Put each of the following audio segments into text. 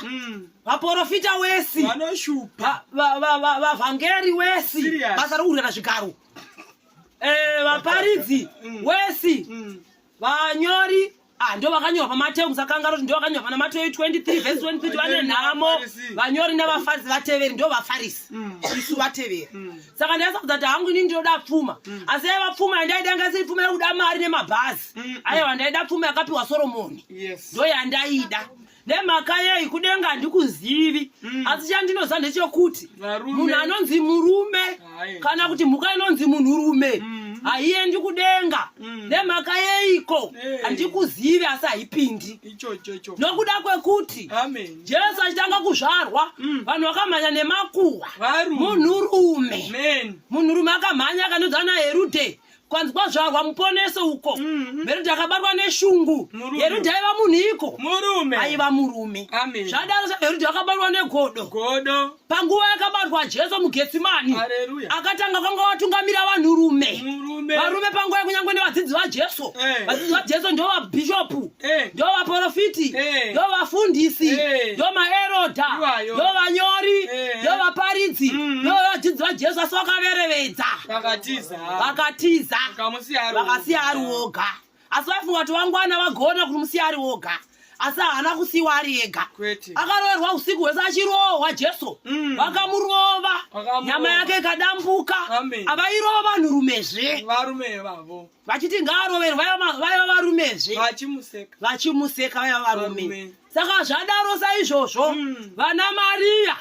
Mm. vaporofita wesi vanoshupa vavhangeri wesi basa rokurera zvigaro eh, vaparidzi mm. wesi mm. vanyori ah, ndo vakanyora pamateu musakanga roti ndo vakanyora pana mateu 23 vhesi 23 vane nhamo vanyori nevafarisi vateveri ndo vafarisi isu vateveri saka ndaisakudza kuti hangu inini ndinoda pfuma asi yaiva pfuma yandaida yanga isiri pfuma yekuda mari nemabhazi aiwa ndaida pfuma yakapiwa soromoni ndo yandaida nemhaka yei kudenga handikuzivi mm. asi chandinoziva ndechokuti munhu anonzi murume Aye. kana kuti mhuka inonzi munhurume mm. haiendi kudenga mm. nemhaka yeiko eh. handikuzivi hey. asi haipindi nokuda kwekuti Amen. jesu achitanga kuzvarwa mm. vanhu mm. vakamhanya nemakuhwa munhurume munhurume akamhanya akanodza naerude kwanzi kwazvarwa muponese uko mhm. herundi akabatwa neshungu herundi aiva munhu iko murume aiva murume zvadaro herundi akabatwa negodo godo panguva yakabatwa jesu mugetsimani akatanga kwanga watungamira vanhurume varume panguva yekunyangwe nevadzidzi vajesu eh. vadzidzi vajesu ndo vabhishopu eh. ndo vaprofiti eh. ndo vafundisi ndo maeroda ndo vanyori ndo vaparidzi mm-hmm. ndo vadzidzi vajesu asi vakaverevedza vakatiza vakasiya ari woga asi vaifunga kuti vangwana vagona kuti musiya ari woga asi haana kusiwa ari ega akaroverwa usiku hwese achirohwa jesu mm. vakamurova nyama yake ikadambuka avairova vanhurumezve vachiti ngaaroverwe vaiva varumezve vachimuseka vaiva varume saka zvadaro saizvozvo mm. vana mariya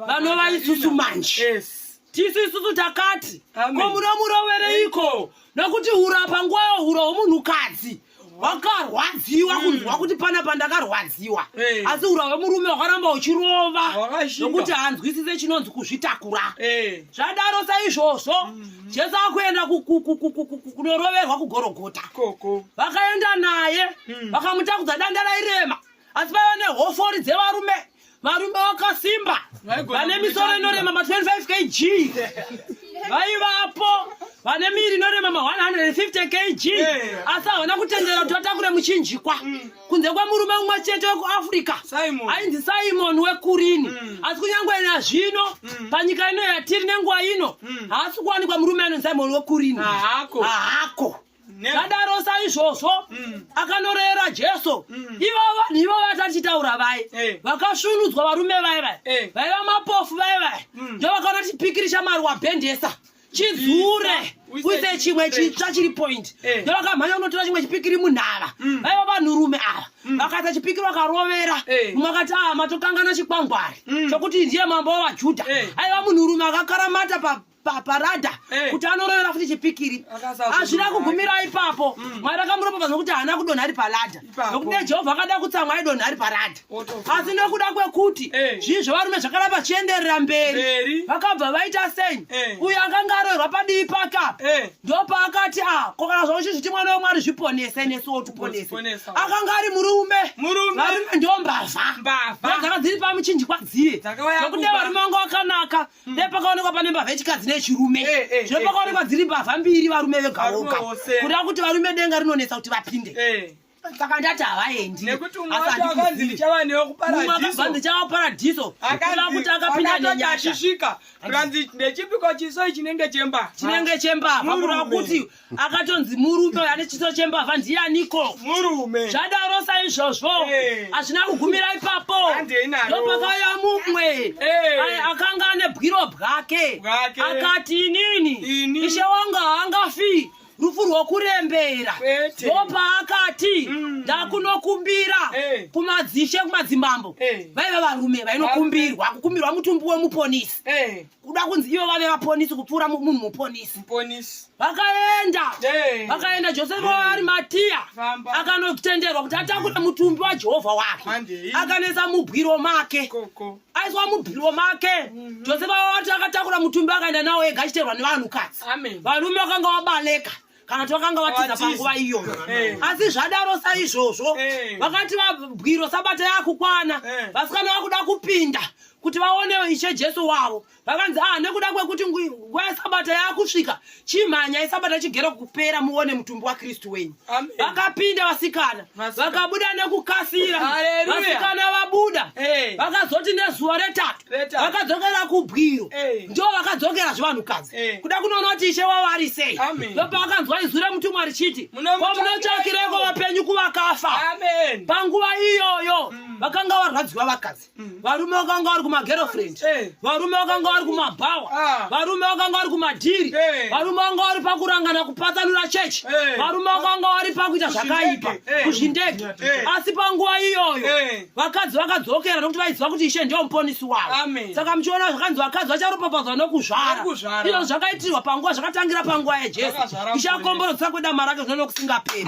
vanovaisusu manje tisu isusu takati ko munomurovereiko nokuti hura panguva yohura hwomunhukadzi wakarwadziwa mm. kunzwa kuti pana pandakarwadziwa eh. asi hura hwemurume wakaramba uchirova nokuti hanzwisise chinonzi kuzvitakura eh. zvadaro saizvozvo mm. jesu akuenda kunoroverwa kugorogota vakaenda naye mm. vakamutakudza danda rairema asi vaiva nehofori dzevarume varume vakasimba vane misoro inorema ma 25 kg vaivapo vane miri inorema ma 150 kg asi havana kutendera kuti vatakure muchinjikwa mm. kunze kwemurume umwe chete wekuafrica ainzi simon wekurini mm. asi kunyange ina zvino mm. panyika ino yatiri nenguva ino haasi kuwanikwa murume anonzi simon wekurini haako zvadaro saizvozvo mm. akanorera jesu mm. ivo vanhu ivo vatachitaura vai eh. vakasvunudzwa varume vai vai eh. vaiva mapofu vai vai mm. ndovakaona chipikirisha mari wabhendesa chidzure uise chimwe chitsva chiri point eh. ndovakamhanya unotora chimwe chipikiri munhava mm. vaiva vanhurume ava mm. vakaita chipikiri vakarovera eh. umwe akati a ah, matokangana chikwangwari mm. chokuti ndiye mambo wavajudha eh. aiva munhurume akakaramata pa paparada hey. kuti anorovera futi chipikiri hazvina kugumira ipapo mm. mwari akamuropa vanhu kuti haana kudonha ari parada nokuti dai jehovha akada kutsamwa aidonha ari parada asi nokuda kwekuti hey. zvii zvevarume zvakada vachienderera mberi vakabva vaita sei hey. uyo akanga aroerwa padivi paka hey. ndopaakati a ah, kokana zvavo chizviti mwana wemwari zviponese nesu wotuponese akanga ari murume varume ndombavha dzakadziri pamuchinjikwa dziye nokuti varume vanga vakanaka nepakaonekwa pane mbavha yechikadzi nechirume eh, eh, eh, zvino pakaonekwa dziri mbavha mbiri varume vegaoka kuda kuti varume denga rinonetsa kuti vapinde saka ndati havaendi asandichava paradhiso kuda kuti akapinda nenyasha zvikanzi ndechipiko chiso chinenge chemba chinenge chemba vakuda kuti akatonzi murume ane chiso chembavha ndiyaniko murume zvadaro saizvozvo eh. hazvina kugumira ipapo ndopakauya mumwe eh. aye akanga ane bwiro bwake akati inini ishe wanga haangafi rufu rwokurembera ndopaakati mm. ndakunokumbira eh. kumadzishe kumadzimambo vaiva varume vainokumbirwa kukumbirwa mutumbi wemuponisi kuda kunzi ivo vave vaponisi kupfuura munhu muponisi muponisi vakaenda vakaenda josefa waari matiya akanotenderwa kuti atakure mutumbi wajehovha wake akanesa mubwiro make aiswa mubwiro make mhm. josefa wawati akatakura mutumbi akaenda nawo ega achiterwa nevanhukadzi varume vakanga vabaleka kana kuti vakanga vatiza panguva iyo eh. asi zvadaro saizvozvo eh. vakati vabwiro sabata yakukwana eh. vasikana vakuda kupinda kuti vaone ishe jesu wavo vakanzi ah nekuda kwekuti nguva yesabata yakusvika chimhanya isabata chigero kupera muone mutumbi wakristu wenyu vakapinda vasikana vakabuda nekukasira vasikana vabuda vakazoti nezuva retatu vakadzokera kubwiro eh. ndo vakadzokera zvevanhukadzi eh. kuda kunoona kuti ishe wavo ari sei ndopa vakanzwa izwi remutumwa richiti ko munotsvakireko vapenyu kuvakafa panguva iyoyo mm. vakanga varwadziwa vakadzi mm. varume vakanga vari kumagerofriend eh. varume vakanga vari kumabhawa ah. varume vakanga vari kumadhiri varume vakanga vari pakurangana kupatsanura chechi varume vakanga vari pakuita zvakaipa kuzvindege asi panguva iyoyo vakadzi vakadzokera nokuti vaiziva kuti ishe ndiyo muponisi wavo saka muchiona zvakanzi vakadzi vacharopafadzwa nokuzvara izvo zvakaitirwa panguva zvakatangira panguva yajesu ishe akomborotsa kwedama rake zvino nokusingaperi